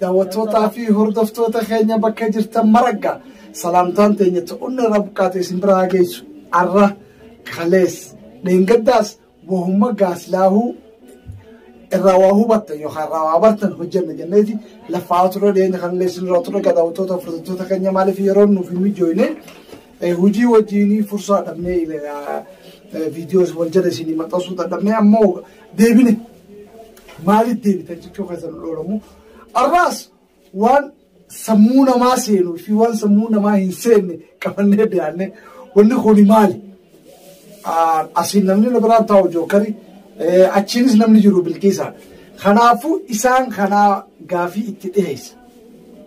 daawwattootaa fi hordoftoota keenya bakka jirtan maragga salaamtaan teenya ta'unni irraa buqqaate isin biraa haa geessu arra kalees dheengaddaas wahumma gaaslaahuu irraa waa hubattan yookaan irraa waa bartan hojjenna jenneeti lafaa turre dhiyeenya kan illee isinirraa turre gadaawwattoota hordoftoota keenya maaliif yeroo nuuf hin mijoone hojii wajjiinii fursaa dhabnee viidiyoos wal jala isinii maxxansuu dadhabnee ammoo deebine Maaliif deebitan jechuu keessan hin oolamu. Arraas waan sammuu namaa seenuu fi waan sammuu namaa hin seenne qabannee dhiyaanne wanni kuni maali? Asiin namni na biraan taa'u jookari achiinis namni jiru bilqiisaadha. Kanaafuu isaan kanaa gaafii itti dhiyeessa.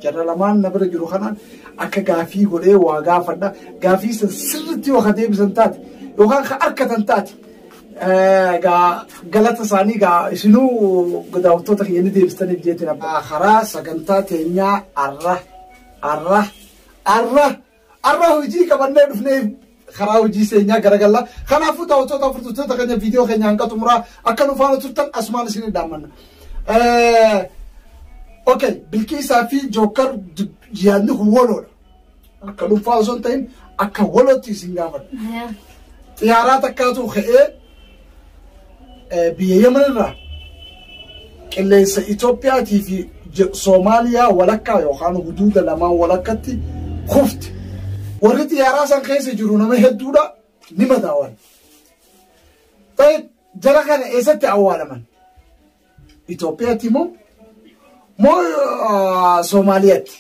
Jarra lamaan na bira jiru kanaan akka gaafii godhee waa gaafadha. Gaafii san sirriitti yoo ka deebisan taate yookaan ka arkatan taate Egaa galata isaanii egaa isinuu daawwattoota keenya ni deebistaniif jeetiin abbaa. Karaa sagantaa teenyaa arra arra arra arra hojii qabannee dhufnee karaa hojii seenyaa garagalla. Kanaafuu daawwattoota furduttoota keenya viidiyoo keenya hanga xumuraa akka nu faana turtan asumaan isin dhaammanna. Okay, bilkiisaa fi jookar yaadni kun waloodha. Akka dhuunfaa osoo hin ta'in akka walootti isin gaafadha. Xiyaaraa takkaatu ka'ee biyya Yemen irraa qilleensa Itoophiyaatii fi Soomaaliyaa walakkaa yookaan huduuda lamaan walakkatti kufte. Warri xiyaaraa san keessa jiru nama hedduudha ni madaawan. Ta'e jara kana eessatti awwaalaman? Itoophiyaatti moo moo Soomaaliyaatti?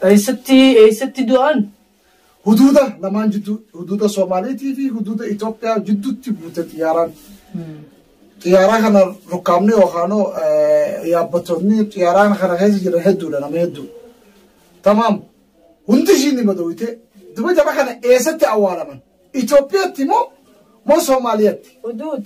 Eessatti eessatti du'an? Huduuda lamaan jidduu huduuda Soomaaliitii fi huduuda Itoophiyaa jidduutti buute xiyyaaraan. Xiyyaaraa kana rukkaamni yookaanoo yaabbattoonni xiyyaaraan kana keessa jiran hedduudha nama hedduu. Tamaam hundi ishiin ni madawite duba jara kana eessatti awwaalaman? Itoophiyaatti moo moo Soomaaliyaatti? Huduud.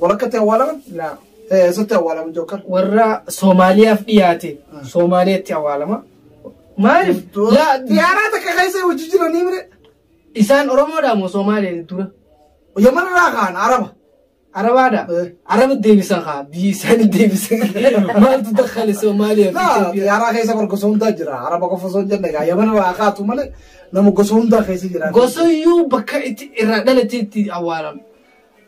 Walakkatti awwaalaman? Laa. Eh, Eessatti awwaalaman jokkan? warra Soomaaliyaaf dhiyaate Ah. Soomaaliyaatti awwaalama. Maaliif? Laa Xiyaaraa takka keessa hojii jiranii mire. isaan Oromoodhaa moo Soomaaliyaa dura? Yaman irraa kaan Araba. Arabaadha. Eh. Araba deebisan kaa biyyi isaanii deebisan. Maaltu dakkale Soomaaliyaa fi Laa Itoophiyaa? xiyaaraa keessa bar gosa hundaa jira. Araba qofa osoo hin jenne egaa Yaman irraa kaatu malee nama gosa hundaa keessa jira. Gosoyyuu bakka itti irraa dhalateetti awwaalama.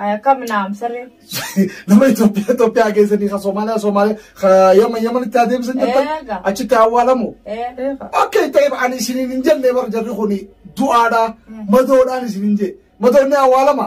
Ay akkam naam saree. Nama Itoophiyaa Itoophiyaa keessanii kan Somaaliyaa Somaaliyaa kan Yaman Yamanitti adeemsan jirtan Eega. achitti awwaalamu. Ee. Akka itti ta'eef ani isiniin hin jenne bar jarri kun du'aadha madoodhaan isiniin jee madoonni awwaalama.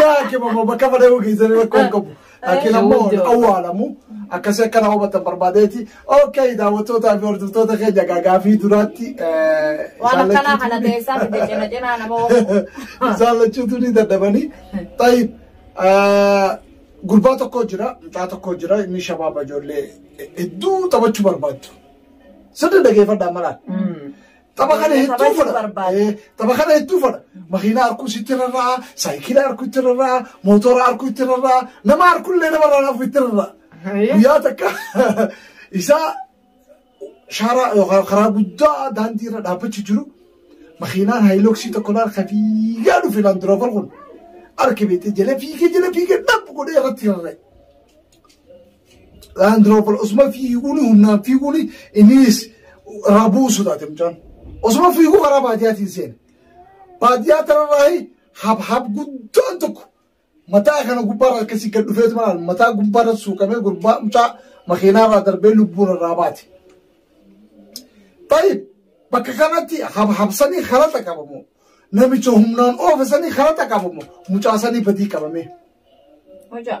Yaa kibaba bakka fadhee keessan rakkoo hin qabu. Laakiin ammoo hin awwaalamu. Akkasii akka nama hubattan barbaadeeti. Ookee daawwattootaa fi hordoftoota keenya gagaa fi duraatti. Waan akkanaa kana teessaa fi cina cinaa nama oofu. Isaan lachuutu ni dadhabanii. Tayyib. Gurbaa tokko jira, mucaa tokko jira, inni shabaaba ijoollee hedduu taphachuu barbaaddu. Sirna dhageeffadhaa malaan. Tapha kana hedduu Taphachuun fedha. barbaada. Eh, Tapha kana hedduu fedha. Makiinaa harkuu itti rarra'a, saayikilaa harkuu itti rarra'a, mootora harkuu itti rarra'a, nama harkullee nama rarraa'u itti rarra'a. Guyyaa takka isaa shaara yookaan karaa guddaa daandii irra dhaabbachuu jiru makiinaan haayiloksii tokko laal ka fiigaa dhufe laandiroovar kun arge beekte jala fiigee jala fiigee dhab godhee irratti rarra'e. Laandiroover osuma fiiguun humnaan fiiguun innis irraa bu'uu sodaate mucaan. Osuma fiiguu karaa baadiyaatiin seena. Baadiyaa kanarraa habhab guddaan tokko mataa kana gubbaarra akkasii gad dhufeetu maal mataa gubbaarra suuqamee gurbaa mucaa makiinaarraa darbee lubbuun irraa baate. Tayyib bakka kanatti habhabsanii kalata qabamu namicha humnaan oofisanii kalata qabamu mucaa sanii badii qabamee. Hojaa.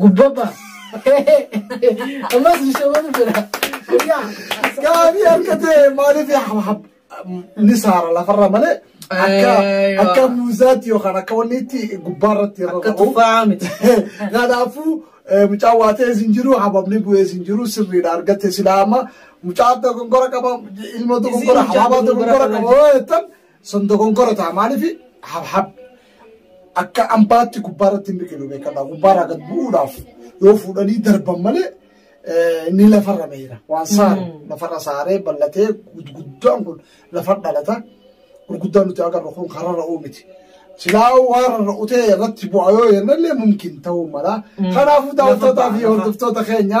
Gubbabba. Ammas shamarru jira. Yaa gaabii akka ta'e maaliif hab ni saara lafarra malee akka Eeywa. akka muuzaatti yookaan akka wanni itti gubbaa irratti irra Akka tufaa miti. Kanaafuu eh, mucaa waa ta'e sin jiru hababni bu'ee sin jiru sirriidha argatte silaa amma mucaa dogoggora qaba ilma dogoggora Isiin mucaa habaabaa dogoggora dogoggora qaba yoo jettan Sun dogongora ta'a maaliif habhab akka ambaatti gubbaa irratti hin biqilu beekadha gubbaa irraa gad bu'uudhaaf yoo fuudhanii darban malee eh, inni lafarra meera waan saare lafarra saaree ballatee gurguddaan kun lafa dhalata gurguddaan nuti agarru kun kararra uumiti. Silaa waan rarra'utee irratti bu'a yoo jennallee mumkin ta'uu mala. Kanaafuu daawwattootaa fi hordoftoota keenya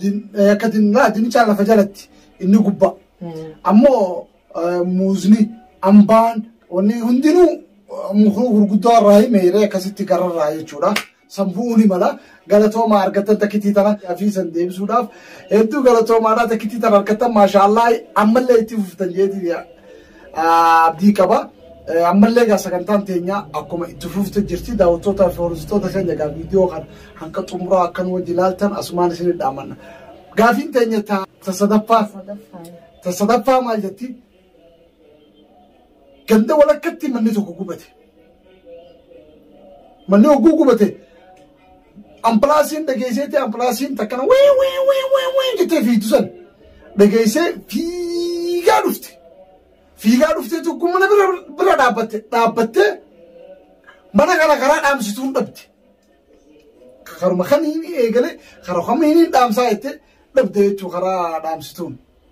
Din- eh, akka dinniraa dinnichaa lafa jalatti inni gubbaa ammoo eh, muuzni ambaan wanni hundinuu eh, muka gurguddoo irraa hin meeree akkasitti gararraa jechuudha san bu'uu ni mala galatooma argattan takkitii tana fi san deebisuudhaaf hedduu galatoomaadhaa takkitii tana argattan maashaallah ammallee itti fuftan jeetii abdii qaba. Ammallee egaa sagantaan teenya akkuma itti fufte jirti daawwattootaa fi hordoftoota keenya egaa viidiyoo kana hanga xumuraa akka nu wajji ilaaltan asumaan isin dhaamanna. Gaafiin teenya ta sadaffaa ta sadaffaa maal jetti? Ganda walakkatti manni tokko gubate. Manni hogguu gubate Ambulaansiin dhageesseetti ambulaansiin takkana wii wii wii wii wii jettee fiigdu san dhageessee fiigaa dhufte. Fiigaa dhuftee tokko mana bira bira dhaabbatte dhaabbattee mana kana karaa dhaamsituun dhabde. Karuma kamiin eegalee karaa kamiin dhaamsaa jettee dhabde jechuun karaa dhaamsituun.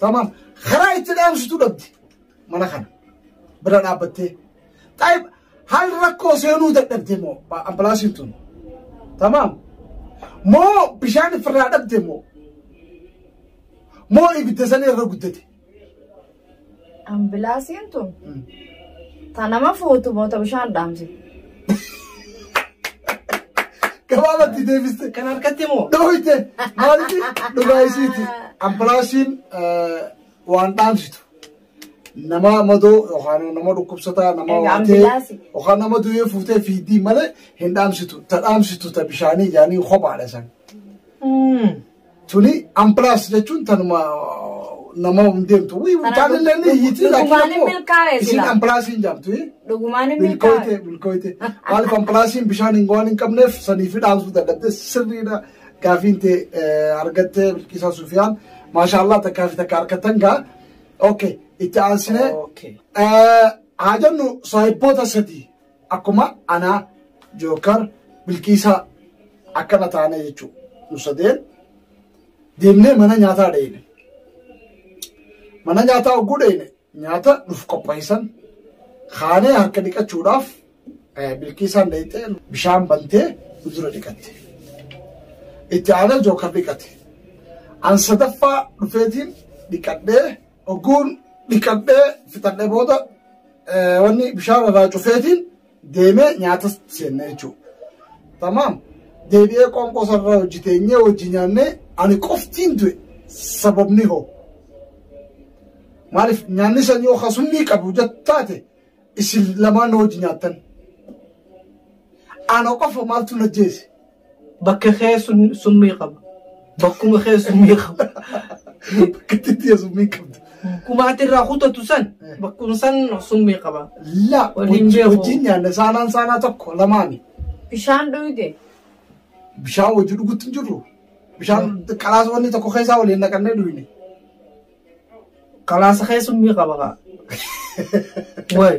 Tamam. Karaa itti dhaamsitu dhabdi. Mana kana. Bira dhaabbattee. Taayib haal rakkoo seenuu dadhabde moo ambulaansiin tun. Tamam. Moo bishaan ofirraa dhabde moo. Moo ibidda sanii irra guddate. Ambilaasiin tun ta nama fuutu moo ta bishaan dhaamsi. Gabaabatti deebiste. Kan harkatti moo? Dhooyte maalitti dhugaa isiiti. Ambulaansiin waan dhaamsitu. Nama madoo yookaan nama dhukkubsataa nama Egaa waatee ambilaansi. yookaan nama du'ee fuutee fiiddii malee hin dhaamsitu. Ta dhaamsitu ta bishaanii yaanii kophaadha san. Hmm. Tuni amplaas jechuun tanuma nama hin deemtu. Wii Kana mucaan illee ni iyyiti laakiin dhugumaan hin ammoo milkaa'e isin silaa. amplaas hin jaamtu. eh? Dhugumaan hin milkaa'e. Bilkooyte bilkooyte. Maal amplaasiin bishaan hin waan hin qabneef sanii fi dhaamsuu dadhabde sirriidha. Gaafiin tee eh, argattee Bilkiisaa Sufiyaan. Maashaallah takkaa fi takka harkattan gaa. Okay itti aansinee. Okay. Eh, Haa jennu saahibboota sadii. akkuma anaa jookar bilqiisaa akkana taana jechuu nu sadeen deemnee mana nyaataa dheeyne mana nyaataa hogguu dheeyne nyaata nuuf qopheessan kaanee harka dhiqachuudhaaf eh, bilqiisaan dheeyxee bishaan bantee nu dura dhiqatte itti aanee jookar dhiqate an sadaffaa dhufeetiin dhiqadhee Ogguun dhiqadhee fixadhee booda wanni bishaan irraa cufeetiin deemee nyaatas seenne jechuudha. Tamaam deebi'ee qoonqoo sarara hojii teenyee hojii nyaannee ani qoftiin du'e sababni hoo. Maaliif nyaanni san yoo kasumni qabu jettaate isin lamaan hojii nyaattan. Ana qofa maaltu na jeese Bakka kee sun- summii qaba. Bakkuma kee summii qaba. Bakkitti itti summii qabda. Kumaati irraa kutatu san bakkuma san summii qaba. La Waliin wajjin beeku. wajjin nyaanna saanaan saanaa tokko lamaani. Bishaan dhuyde. Bishaan wajji dhugutti hin jirru. Bishaan qalaas wanni tokko keessaa waliin naqannee dhuyne. Qalaasa kee summii qaba kaa. Wayi.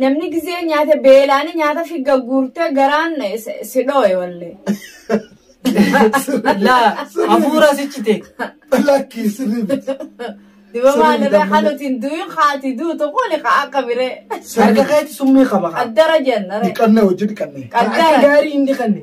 Namni gizee nyaate beelaani nyaata fi gagguurtee garaan si dhooye wallee. Laa hafuura sichite. Lakki sirrii miti. Diba maalirra halutiin du'in haati duutu kuni ka akka biree. Harka keetti summii qaba kaa. Qaddara jennare. Dhiqanna hojii dhiqanne. Akka Qaddaa. gaarii hin dhiqanne.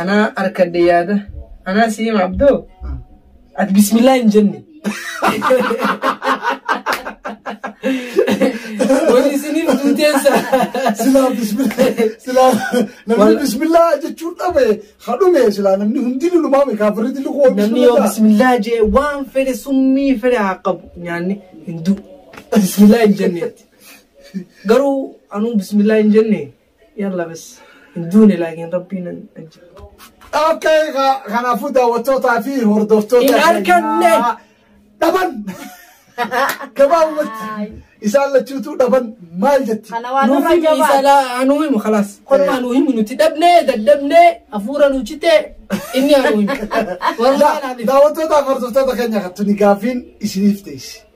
Anaa harkadhe yaada. Anaa si hima abdoo. Ati bismillaa hin jenne. Wani isiniin duuteessa. Silaa bismillaa silaa namni Wal- bismillaa jechuun dhabe hadhume silaa namni hundi lulumaa beekaa firri dilli koo Namni yoo bismillaa jee waan fedhe summii fedhe haa qabu nyaanni hin du'u. Bismillaa hin jenneetti. Garuu anuu bismillaa hin jenne Yalla bas hin duune laakiin rabbiin nan ajjeesu. Okay, ka- kanaafuu daawwattootaa fi hordoftoota Hin arganne. keenyaa dhaban gabaabumatti Aay. isaan lachuutu dhaban maal jetti Kana waan Nuuf irra himi gabaadha. isalaa anuu himu kalaas. Kolma anuu himu nuti dhabnee daddabnee hafuura nu citee inni anuu himu. Warra Da- kanaaf daawwattootaa fi hordoftoota keenya kan tuni gaaffiin isiniif teessi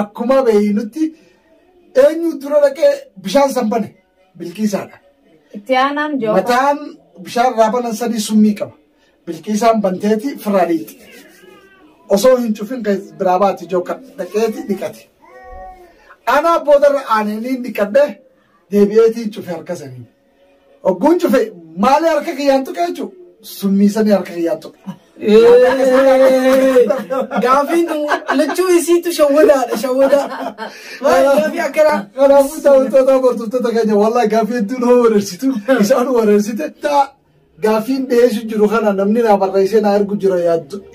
Akkuma beeynutti eenyu dura dhaqee bishaan san bane bilqiisaadha. Itti aanaan joofa. Mataan bishaan irraa banan sanii summii qaba. Bilqiisaan banteeti firraa dhiiqxe. Osoo hin cufin kan biraa baati jooka dhaqeeti dhiqate. Anaa boodarra aanee niin dhiqadhe deebi'eetiin cufe harka sanii. Ogguun cufe maali harka kiyyaan tuqe jechuun summii sanii harka kiyyaan tuqe. Gaafiin kun lachuu isiitu shawwadaadha shawwadaa. Maal gaafii akkanaa? Kanaafuu daawwattoota hordoftoota keenya wallaahi gaaffii hedduu nama wareersitu isaan wareersite taa Gaaffiin dhiyeessu jiru kana namni naa barreessee naa ergu jira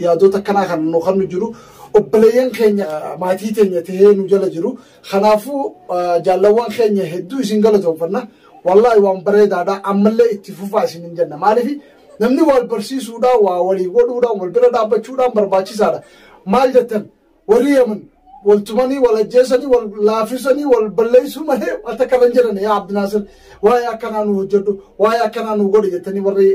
yaadota akkanaa kan nu kan nu jiru obboleeyyan keenya maatii teenya tahee nu jala jiru kanaafuu jaallawwan keenya hedduu isin galatoomfanna wallaahi waan bareedaadha ammallee itti fufaa isin hin jenna maaliif namni wal barsiisuudhaan waa walii godhuudhaan wal bira dhaabbachuudhaan barbaachisaadha maal jettan Warri Yaman wal tumanii wal ajjeesanii wal laafisanii wal balleessuu malee waan takka irra hin jirani yaa Abdinaasir waa'ee akkanaa nu hojjedhu waa'ee akkanaa nu godhi jettanii warri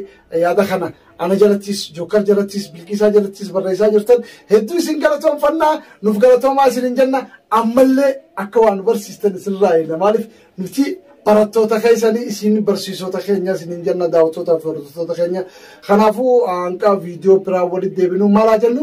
yaada kana ana jalattis jokkar jalattis bilqiisaa jalattis barreessaa jirtan hedduu isin galatoomfannaa nuuf galatoomaa isin hin jenna ammallee akka waan barsiistan isinirraa eegna maaliif nuti barattoota keessanii isin barsiisota keenya isin hin jenna daawwattoota fi hordoftoota keenya kanaafuu hanqa viidiyoo biraa walitti deebinu maalaa jennu